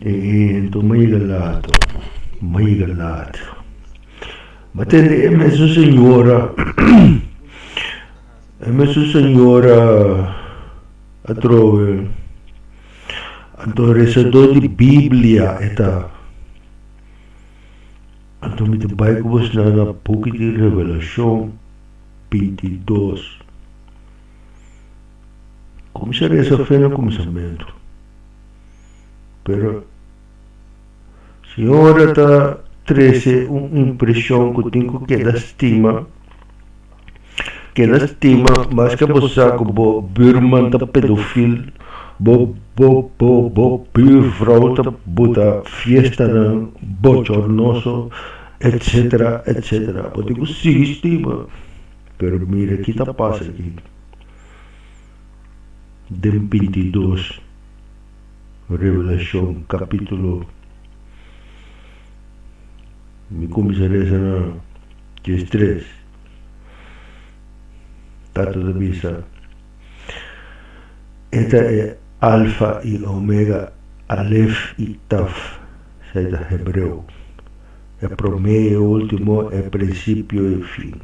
E hento maiga lato, maiga lato. Ma tende e mesu señora, e mesu señora atrobe, anto resador di Biblia e ta. Anto mi ta bai ku bos na na buki di Revelashon binti dos. Kuminsha resa fe na kuminsamentu, pero Siñora ta trese un impreshon ku tin ku keda stima, keda stima maske bo sa ku bo buurman ta pedofil, bo bo bo bo buurvrou ta buta fiestanan bochornoso etsetera etsetera bo tin ku sigui stima. Pero mira ki ta pasa aki, den bintidos Revelashon kapitulo, mi kuminsá resa na des tres, Tata ta bisa, E ta e Alfa i Omega, Alef i Taf, sa e ta hebreo. E promé, e último, e prinsipio, e fin.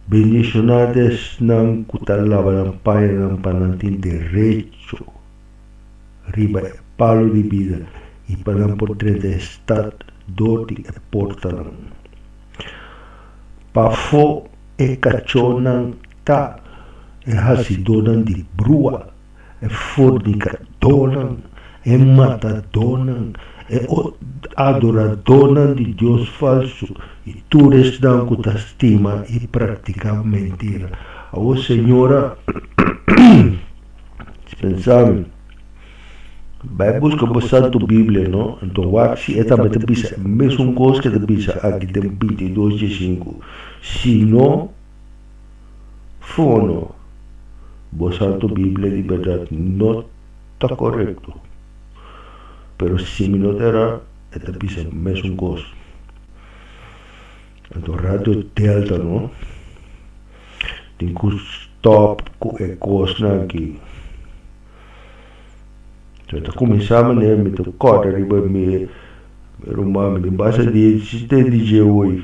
Bendishoná ta esnan ku ta laba nan pañanan pa nan tin derecho riba e palu di bida i pa nan por drenta e stat dor di e portanan. Pafó e kachónan ta e hasidónan di brua E fordicadónan, e matadónan, e adoradónan di dios falsu i tur esnan cu ta stima i practica mentira. Awor, Señor, a dispensa mi. Bai busca bo Santu Biblia, no? Anto wak si e tambe ta bisa e mesun cos cu e ta bisa aki den binti i dos dje sinku. Si no. Fono, Bo Santu Biblia di berdad no ta korekto, pero si mi no ta erá e ta bisa mesun kos. Anto Radio Delta no tin ku stòp ku e kosnan aki. Kua ta kuminsá manera mi ta kòrda riba mi ruman, mi tin basa di e di Jehovi.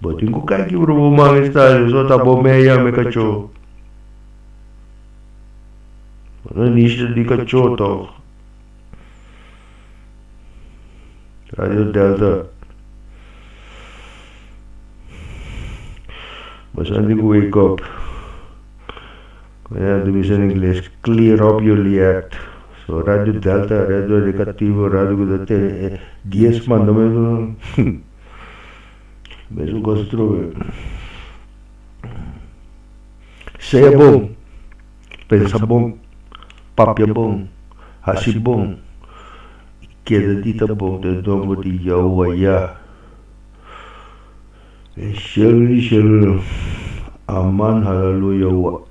Bo tin ku kai kibra bo man e stadio so ta bo mei yame kachó. Bo no e niño di kachó tòg. Radio Delta Bo santi ku wake up. Manera di bisa na ingles, clear up your liet. So Radio Delta, Radio Educativo, radio cu ta tene e Dies Mandamentonan, hum, mesun cosa trove. Sea bon, pensa bon, papia bon, haci bon, y keda di ta bon den nomber di Yahowa Yah. Den shelu di shelunan, Aman, Halaluya, Wah.